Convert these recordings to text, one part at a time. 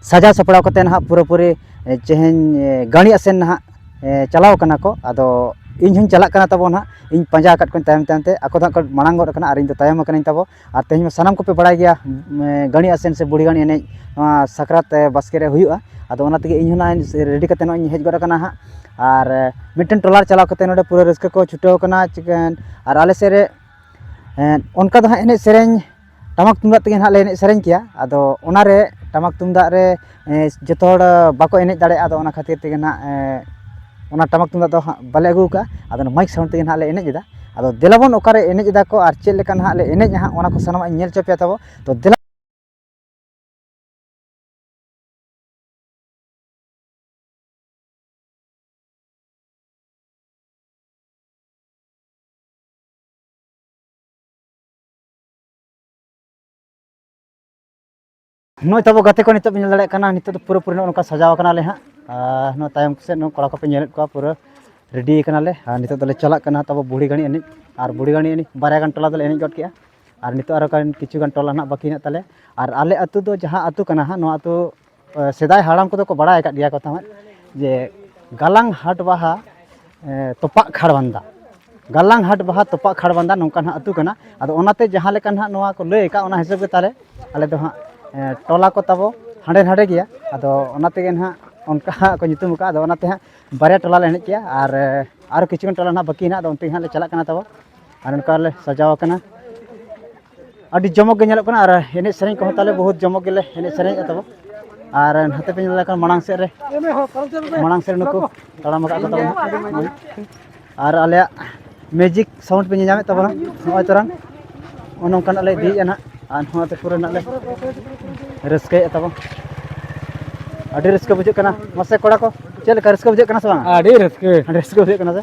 ᱥᱟᱡᱟᱣ ᱥᱟᱯᱲᱟᱣ ᱠᱟᱛᱮᱫ ᱱᱟᱦᱟᱜ ᱯᱩᱨᱟᱹᱯᱩᱨᱤ ᱛᱮᱦᱮᱧ ᱜᱟᱹᱬᱤ ᱟᱥᱮᱱ ᱱᱟᱦᱟᱜ ᱪᱟᱞᱟᱣ ᱠᱟᱱᱟ ᱠᱚ ᱟᱫᱚ ᱤᱧ ᱦᱚᱧ ᱪᱟᱞᱟᱜ ᱠᱟᱱᱟ ᱛᱟᱵᱚ ᱱᱟᱦᱟᱜ ᱤᱧ ᱯᱟᱸᱡᱟ ᱟᱠᱟᱫ ᱠᱚᱣᱟᱹᱧ ᱛᱟᱭᱚᱢ ᱛᱟᱭᱚᱢ ᱛᱮ ᱟᱠᱚ ᱫᱚ ᱦᱟᱸᱜ ᱠᱚ ᱢᱟᱲᱟᱝ ᱜᱚᱫ ᱠᱟᱱᱟ ᱟᱨ ᱤᱧ ᱫᱚ ᱛᱟᱭᱚᱢ ᱠᱟᱹᱱᱟᱹᱧ ᱛᱟᱵᱚ ᱟᱨ ᱛᱮᱦᱮᱧ ᱢᱟ ᱥᱟᱱᱟᱢ ᱠᱚᱯᱮ ᱵᱟᱲᱟᱭ ᱜᱮᱭᱟ ᱜᱟᱹᱬᱤ ᱟᱥᱮᱱ ᱥᱮ ᱵᱩᱲᱦᱤ ᱜᱟᱹᱬᱤ ᱮᱱᱮᱡ ᱱᱚᱣᱟ ᱥᱟᱠᱨᱟᱛ ᱵᱟᱥᱠᱮ ᱨᱮ ᱦᱩᱭᱩᱜᱼᱟ ᱟᱫᱚ ᱚᱱᱟ ᱛᱮᱜᱮ ᱤᱧ ᱦᱚᱸ ᱱᱟᱦᱟᱜ ᱨᱮᱰᱤ ᱠᱟᱛᱮᱫ ᱱᱚᱜᱼᱚᱭ ᱤᱧ ᱦᱮᱡ ᱜᱚᱫ ᱠᱟᱱᱟ ᱦᱟᱸᱜ ᱟᱨ ᱢᱤᱫᱴᱮᱱ ᱴᱚᱞᱟ ᱨᱮ ᱪᱟᱞᱟᱣ ᱠᱟᱛᱮᱫ ᱱᱚᱰᱮ ᱯᱩᱨᱟᱹ ᱨᱟᱹᱥᱠᱟᱹ ᱠᱚ ᱪᱷᱩᱴᱟᱹᱣ ᱠᱟᱱᱟ ᱪᱤᱠᱟᱹ ᱟᱨ ᱟᱞᱮ ᱥᱮᱫ ᱨᱮ ᱚᱱᱠᱟ ᱫᱚ ᱦᱟᱸᱜ ᱮᱱᱮᱡ ᱥᱮᱨᱮᱧ ᱴᱟᱢᱟᱠ ᱛᱩᱢᱫᱟᱜ ᱛᱮᱜᱮ ᱱᱟᱦᱟᱜ ᱞᱮ ᱮᱱᱮᱡ ᱥᱮᱨᱮᱧ ᱠᱮᱭᱟ ᱟᱫᱚ ᱚᱱᱟᱨᱮ ᱴᱟᱢᱟᱠ ᱛᱩᱢᱫᱟᱜ ᱨᱮ ᱡᱚᱛᱚ ᱦᱚᱲ ᱵᱟᱠᱚ ᱮᱱᱮᱡ ᱫᱟᱲᱮᱭᱟᱜᱼᱟ ᱟᱫᱚ ᱚᱱᱟ ᱠᱷᱟᱹᱛᱤᱨ ᱛᱮᱜᱮ ᱱᱟᱦᱟᱜ ᱚᱱᱟ ᱴᱟᱢᱟᱠ ᱛᱩᱢᱫᱟᱜ ᱫᱚ ᱦᱟᱸᱜ ᱵᱟᱞᱮ ᱟᱹᱜᱩ ᱠᱟᱜᱼᱟ ᱟᱫᱚ ᱚᱱᱟ ᱢᱟᱹᱭᱤᱠ ᱥᱟᱣᱩᱱᱰ ᱛᱮᱜᱮ ᱱᱟᱦᱟᱜ ᱞᱮ ᱮᱱᱮᱡ ᱮᱫᱟ ᱟᱫᱚ ᱫᱮᱞᱟ ᱵᱚᱱ ᱚᱠᱟᱨᱮ ᱮᱱᱮᱡ ᱮᱫᱟ ᱠᱚ ᱟᱨ ᱪᱮᱫ ᱞᱮᱠᱟ ᱱᱟᱦᱟᱜ ᱞᱮ ᱮᱱᱮᱡᱼᱟ ᱦᱟᱸᱜ ᱚᱱᱟ ᱠᱚ ᱥᱟᱱᱟᱢᱟᱜ ᱤᱧ ᱧᱮᱞ ᱦᱚᱪᱚ ᱯᱮᱭᱟ ᱛᱟᱵᱚ ᱛᱚ ᱫᱮᱞᱟ ᱱᱚᱜᱼᱚᱭ ᱛᱟᱵᱚ ᱜᱟᱛᱮ ᱠᱚ ᱱᱤᱛᱚᱜ ᱵᱚ ᱧᱮᱞ ᱫᱟᱲᱮᱭᱟᱜ ᱠᱟᱱᱟ ᱱᱤᱛᱚᱜ ᱫᱚ ᱯᱩᱨᱟᱹ ᱯᱩᱨᱤ ᱱᱚᱜᱼᱚ ᱱᱚᱝᱠᱟ ᱥᱟᱡᱟᱣ ᱠᱟᱱᱟᱞᱮ ᱦᱟᱸᱜ ᱟᱨ ᱱᱚᱣᱟ ᱛᱟᱭᱚᱢ ᱥᱮᱫ ᱱᱚᱣᱟ ᱠᱚᱲᱟ ᱠᱚᱯᱮ ᱧᱮᱞᱮᱫ ᱠᱚᱣᱟ ᱯᱩᱨᱟᱹ ᱨᱮᱰᱤ ᱠᱟᱱᱟᱞᱮ ᱟᱨ ᱱᱤᱛᱚᱜ ᱫᱚᱞᱮ ᱪᱟᱞᱟᱜ ᱠᱟᱱᱟ ᱛᱟᱵᱚ ᱵᱩᱲᱦᱤ ᱜᱟᱹᱲᱤ ᱮᱱᱮᱡ ᱟᱨ ᱵᱩᱲᱦᱤ ᱜᱟᱹᱲᱤ ᱮᱱᱮᱡ ᱵᱟᱨᱭᱟ ᱜᱟᱱ ᱴᱚᱞᱟ ᱫᱚᱞᱮ ᱮᱱᱮᱡ ᱜᱚᱫ ᱠᱮᱜᱼᱟ ᱟᱨ ᱱᱤᱛᱚᱜ ᱟᱨᱚ ᱠᱤᱪᱷᱩ ᱜᱟᱱ ᱴᱚᱞᱟ ᱱᱟᱦᱟᱜ ᱵᱟᱹᱠᱤ ᱦᱮᱱᱟᱜ ᱛᱟᱞᱮᱭᱟ ᱟᱨ ᱟᱞᱮ ᱟᱹᱛᱩ ᱫᱚ ᱡᱟᱦᱟᱸ ᱟᱹᱛᱩ ᱠᱟᱱᱟ ᱦᱟᱸᱜ ᱱᱚᱣᱟ ᱟᱹᱛᱩ ᱥᱮᱫᱟᱭ ᱦᱟᱲᱟᱢ ᱠᱚᱫᱚ ᱠᱚ ᱵᱟᱲᱟᱭ ᱟᱠᱟᱫ ᱜᱮᱭᱟ ᱠᱚ ᱛᱟᱦᱮᱸᱫ ᱡᱮ ᱜᱟᱞᱟᱝ ᱦᱟᱴ ᱵᱟᱦᱟ ᱛᱚᱯᱟᱜ ᱠᱷᱟᱲᱵᱟᱱᱫᱟ ᱜᱟᱞᱟᱝ ᱦᱟᱴ ᱵᱟᱦᱟ ᱛᱚᱯᱟᱜ ᱠᱷᱟᱲᱵᱟᱱᱫᱟ ᱱᱚᱝᱠᱟ ᱱᱟᱦᱟᱜ ᱟᱹᱛᱩ ᱠᱟᱱᱟ ᱟᱫᱚ ᱚᱱᱟᱛᱮ ᱡᱟᱦᱟᱸ ᱞᱮᱠᱟ ᱱᱟᱦᱟᱜ ᱱᱚᱣᱟ ᱠᱚ ᱞᱟᱹᱭ ᱟᱠᱟᱫ ᱚᱱᱟ ᱦᱤᱥᱟᱹᱵ ᱜᱮ ᱛᱟᱦᱚᱞᱮ ᱟᱞᱮ ᱫᱚ ᱦᱟᱸᱜ ᱴᱚᱞᱟ ᱠᱚ ᱛᱟᱵᱚ ᱦᱟᱸᱰᱮ ᱱᱟᱸᱰᱮ ᱜᱮᱭᱟ ᱟᱫᱚ ᱚᱱᱟ ᱛᱮᱜᱮ ᱱᱟᱦᱟᱜ ᱚᱱᱠᱟ ᱦᱟᱸᱜ ᱠᱚ ᱧᱩᱛᱩᱢ ᱟᱠᱟᱫᱼᱟ ᱟᱫᱚ ᱚᱱᱟᱛᱮ ᱦᱟᱸᱜ ᱵᱟᱨᱭᱟ ᱴᱚᱞᱟ ᱞᱮ ᱮᱱᱮᱡ ᱜᱮᱭᱟ ᱟᱨ ᱟᱨ ᱠᱤᱪᱷᱩ ᱜᱟᱱ ᱴᱚᱞᱟ ᱱᱟᱦᱟᱜ ᱵᱟᱹᱠᱤ ᱦᱮᱱᱟᱜᱼᱟ ᱟᱫᱚ ᱚᱱᱛᱮ ᱜᱮ ᱦᱟᱸᱜ ᱞᱮ ᱪᱟᱞᱟᱜ ᱠᱟᱱᱟ ᱛᱟᱵᱚ ᱟᱨ ᱱᱚᱝᱠᱟ ᱞᱮ ᱥᱟᱡᱟᱣ ᱟᱠᱟᱱᱟ ᱟᱹᱰᱤ ᱡᱚᱢᱚᱠ ᱜᱮ ᱧᱮᱞᱚᱜ ᱠᱟᱱᱟ ᱟᱨ ᱮᱱᱮᱡ ᱥᱮᱨᱮᱧ ᱠᱚᱦᱚᱸ ᱛᱟᱞᱮ ᱵᱚᱦᱩᱛ ᱡᱚᱢᱚᱠ ᱜᱮᱞᱮ ᱮᱱᱮᱡ ᱥᱮᱨᱮᱧᱮᱫ ᱛᱟᱵᱚ ᱟᱨ ᱱᱚᱛᱮ ᱯᱮ ᱧᱮᱞ ᱞᱮᱠᱷᱟᱱ ᱢᱟᱲᱟᱝ ᱥᱮᱫ ᱨᱮ ᱢᱟᱲᱟᱝ ᱥᱮᱫ ᱱᱩᱠᱩ ᱛᱟᱲᱟᱢ ᱟᱠᱟᱫ ᱠᱚ ᱛᱟᱵᱚᱱᱟ ᱟᱨ ᱟᱞᱮᱭᱟᱜ ᱢᱮᱡᱤᱠ ᱥᱟᱣᱩᱱᱰ ᱯᱮ ᱧᱮᱧᱟᱢᱮᱫ ᱛᱟᱵᱚᱱᱟ ᱱᱚᱜᱼᱚᱭ ᱛᱚᱨᱟᱝ ᱚᱱᱮ ᱚᱱᱠᱟᱱᱟᱜ ᱞᱮ ᱤᱫᱤᱭᱮᱫᱼᱟ ᱱᱟᱦᱟᱜ ᱟᱨ ᱱᱚᱣᱟᱛᱮ ᱯᱩᱨᱟᱹ ᱱᱟᱜ ᱞᱮ ᱨᱟᱹᱥᱠᱟᱹᱭᱮᱫ ᱛᱟᱵᱚᱱ ᱟᱹᱰᱤ ᱨᱟᱹᱥᱠᱟᱹ ᱵᱩᱡᱷᱟᱹᱜ ᱠᱟᱱᱟ ᱢᱟᱥᱮ ᱠᱚᱲᱟ ᱠᱚ ᱪᱮᱫ ᱞᱮᱠᱟ ᱨᱟᱹᱥᱠᱟᱹ ᱵᱩᱡᱷᱟᱹᱜ ᱠᱟᱱᱟ ᱥᱮ ᱵᱟᱝ ᱟᱹᱰᱤ ᱨᱟᱹᱥᱠᱟᱹ ᱟᱹᱰᱤ ᱨᱟᱹᱥᱠᱟᱹ ᱵᱩᱡᱷᱟᱹᱜ ᱠᱟᱱᱟ ᱥᱮ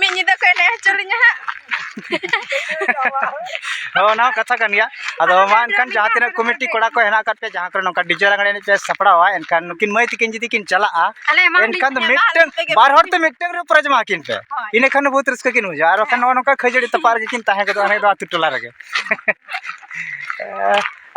ᱢᱤᱫ ᱧᱤᱫᱟᱹ ᱠᱚ ᱮᱱᱮᱡ ᱦᱚᱪᱚ ᱞᱤᱧᱟ ᱦᱟᱸᱜ ᱦᱳᱭ ᱚᱱᱟ ᱦᱚᱸ ᱠᱟᱛᱷᱟ ᱠᱟᱱ ᱜᱮᱭᱟ ᱟᱫᱚ ᱢᱟ ᱮᱱᱠᱷᱟᱱ ᱡᱟᱦᱟᱸ ᱛᱤᱱᱟᱹᱜ ᱠᱚᱢᱤᱴᱤ ᱠᱚᱲᱟ ᱠᱚ ᱦᱮᱱᱟᱜ ᱟᱠᱟᱫ ᱯᱮᱭᱟ ᱡᱟᱦᱟᱸ ᱠᱚᱨᱮ ᱱᱚᱝᱠᱟ ᱰᱤᱡᱮ ᱞᱟᱜᱽᱬᱮ ᱮᱱᱮᱡ ᱯᱮ ᱥᱟᱯᱲᱟᱣᱟ ᱮᱱᱠᱷᱟᱱ ᱱᱩᱠᱤᱱ ᱢᱟᱹᱭ ᱛᱤᱠᱤᱱ ᱡᱩᱫᱤ ᱠᱤᱱ ᱪᱟᱞᱟᱜᱼᱟ ᱟᱞᱮ ᱮᱢᱟ ᱮᱱᱠᱷᱟᱱ ᱫᱚ ᱢᱤᱫᱴᱟᱝ ᱵᱟᱨ ᱦᱚᱲ ᱛᱮ ᱢᱤᱫᱴᱟᱝ ᱨᱮ ᱯᱨᱟᱭᱤᱡᱽ ᱮᱢᱟ ᱠᱤᱱ ᱯᱮ ᱤᱱᱟᱹ ᱠᱷᱟᱱ ᱫᱚ ᱵᱚᱦᱩᱛ ᱨᱟᱹᱥᱠᱟᱹ ᱠᱤᱱ ᱵᱩᱡᱷᱟᱹᱣᱟ ᱟᱨ ᱵᱟᱠᱷᱟᱱ ᱱᱚᱜᱼᱚ ᱱᱚᱝᱠᱟ ᱠᱷᱟᱹᱡᱟᱹᱲᱤ ᱛᱟᱯᱟᱜ ᱨᱮᱜᱮ ᱠᱤᱱ ᱛᱟᱦᱮᱸ ᱜᱚᱫᱚᱜᱼᱟ ᱚᱱᱟ ᱫᱚ ᱟᱹᱛᱩ ᱴᱚᱞᱟ ᱨᱮᱜᱮ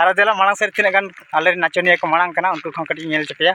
ᱟᱨ ᱫᱮᱞᱟ ᱢᱟᱲᱟᱝ ᱥᱮᱫ ᱛᱤᱱᱟᱹᱜ ᱜᱟᱱ ᱟᱞᱮ ᱱᱟᱪᱚᱱᱤᱭᱟᱹ ᱠᱚ ᱢᱟᱲᱟᱝ ᱠᱟᱱᱟ ᱩᱱᱠᱩ ᱠᱚᱦᱚᱸ ᱠᱟᱹᱴᱤᱡ ᱧᱮᱞ ᱦᱚᱪᱚ ᱯᱮᱭᱟ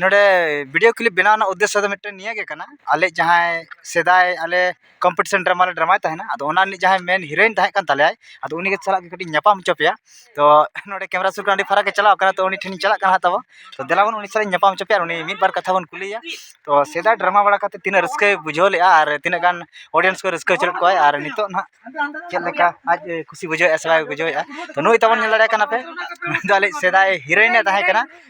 ᱱᱚᱰᱮ ᱵᱷᱤᱰᱭᱳ ᱠᱞᱤᱯ ᱵᱮᱱᱟᱣ ᱨᱮᱱᱟᱜ ᱩᱫᱽᱫᱮᱥᱥᱚ ᱫᱚ ᱢᱤᱫᱴᱮᱱ ᱱᱤᱭᱟᱹᱜᱮ ᱠᱟᱱᱟ ᱟᱞᱮ ᱡᱟᱦᱟᱸᱭ ᱥᱮᱫᱟᱭ ᱟᱞᱮ ᱠᱚᱢᱯᱤᱴᱤᱥᱮᱱ ᱰᱨᱟᱢᱟ ᱞᱮ ᱰᱨᱟᱢᱟᱭ ᱛᱟᱦᱮᱱᱟ ᱟᱫᱚ ᱚᱱᱟ ᱨᱤᱱᱤᱡ ᱡᱟᱦᱟᱸᱭ ᱢᱮᱱ ᱦᱤᱨᱳᱭᱤᱱ ᱛᱟᱦᱮᱸ ᱠᱟᱱ ᱛᱟᱞᱮᱭᱟᱭ ᱟᱫᱚ ᱩᱱᱤ ᱥᱟᱞᱟᱜ ᱜᱮ ᱠᱟᱹᱴᱤᱡ ᱤᱧ ᱧᱟᱯᱟᱢ ᱦᱚᱪᱚ ᱯᱮᱭᱟ ᱛᱚ ᱱᱚᱰᱮ ᱠᱮᱢᱮᱨᱟ ᱥᱩᱨ ᱠᱷᱚᱱ ᱟᱹᱰᱤ ᱯᱷᱟᱨᱟᱠ ᱮ ᱪᱟᱞᱟᱣ ᱠᱟᱱᱟ ᱛᱚ ᱩᱱᱤ ᱴᱷᱮᱱᱤᱧ ᱪᱟᱞᱟᱜ ᱠᱟᱱᱟ ᱛᱟᱵᱚᱱ ᱛᱚ ᱫᱮᱞᱟ ᱵᱚᱱ ᱩᱱᱤ ᱥᱟᱞᱟᱜ ᱤᱧ ᱧᱟᱯᱟᱢ ᱦᱚᱪᱚ ᱯᱮᱭᱟ ᱟᱨ ᱩᱱᱤ ᱢᱤᱫ ᱵᱟᱨ ᱠᱟᱛᱷᱟ ᱵᱚᱱ ᱠᱩᱞᱤᱭᱮᱭᱟ ᱛᱚ ᱥᱮᱫᱟᱭ ᱰᱨᱟᱢᱟ ᱵᱟᱲᱟ ᱠᱟᱛᱮᱫ ᱛᱤᱱᱟᱹᱜ ᱨᱟᱹᱥᱠᱟᱹᱭ ᱵᱩᱡᱷᱟᱹᱣ ᱞᱮᱫᱼᱟ ᱟᱨ ᱛᱤᱱᱟᱹᱜ ᱜᱟᱱ ᱚᱰᱤᱭᱮᱱᱥ ᱠᱚᱭ ᱨᱟᱹᱥᱠᱟᱹ ᱦᱚᱪᱚ ᱞᱮᱫ ᱠᱚᱣᱟᱭ ᱟᱨ ᱱᱤᱛᱚᱜ ᱦᱟᱸᱜ ᱪᱮᱫ ᱞᱮᱠᱟ ᱟᱡ ᱮ ᱠᱩᱥᱤ ᱵᱩᱡᱷᱟᱹᱣᱮᱫᱼᱟ ᱥᱮ ᱵᱟᱭ ᱵᱩᱡᱷᱟᱹᱣᱮᱫᱼᱟ ᱛᱚ ᱱᱩᱭ ᱛᱟᱵᱚᱱ ᱧᱮᱞ ᱫᱟᱲᱮᱭᱟᱭ ᱠᱟᱱᱟ ᱯᱮ ᱱᱩᱭ ᱫᱚ ᱟᱞᱮᱭᱤᱡ ᱥᱮᱫᱟᱭ ᱦᱤᱨᱳᱭᱤᱱ ᱮ ᱛᱟᱦᱮᱸ ᱠᱟᱱᱟ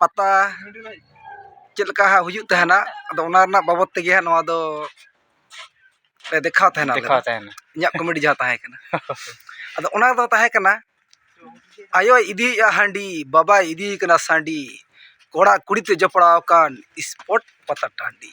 ᱯᱟᱛᱟ ᱪᱮᱫ ᱞᱮᱠᱟ ᱦᱟᱸᱜ ᱦᱩᱭᱩᱜ ᱛᱟᱦᱮᱱᱟ ᱟᱫᱚ ᱚᱱᱟ ᱨᱮᱱᱟᱜ ᱵᱟᱵᱚᱫ ᱛᱮᱜᱮ ᱦᱟᱸᱜ ᱱᱚᱣᱟ ᱫᱚ ᱞᱮ ᱫᱮᱠᱷᱟᱣ ᱛᱟᱦᱮᱱᱟ ᱟᱞᱮ ᱫᱚ ᱫᱮᱠᱷᱟᱣ ᱛᱟᱦᱮᱱᱟ ᱤᱧᱟᱹᱜ ᱠᱚᱢᱮᱰᱤ ᱡᱟᱦᱟᱸ ᱛᱟᱦᱮᱸ ᱠᱟᱱᱟ ᱟᱫᱚ ᱚᱱᱟ ᱫᱚ ᱛᱟᱦᱮᱸ ᱠᱟᱱᱟ ᱟᱭᱳᱭ ᱤᱫᱤᱭᱮᱜᱼᱟ ᱦᱟᱺᱰᱤ ᱵᱟᱵᱟᱭ ᱤᱫᱤᱭᱮ ᱠᱟᱱᱟ ᱥᱟᱺᱰᱤ ᱠᱚᱲᱟ ᱠᱩᱲᱤ ᱛᱮ ᱡᱚᱯᱲᱟᱣ ᱟᱠᱟᱱ ᱥᱯᱳᱨᱴ ᱯᱟᱛᱟ ᱴᱟᱺᱰᱤ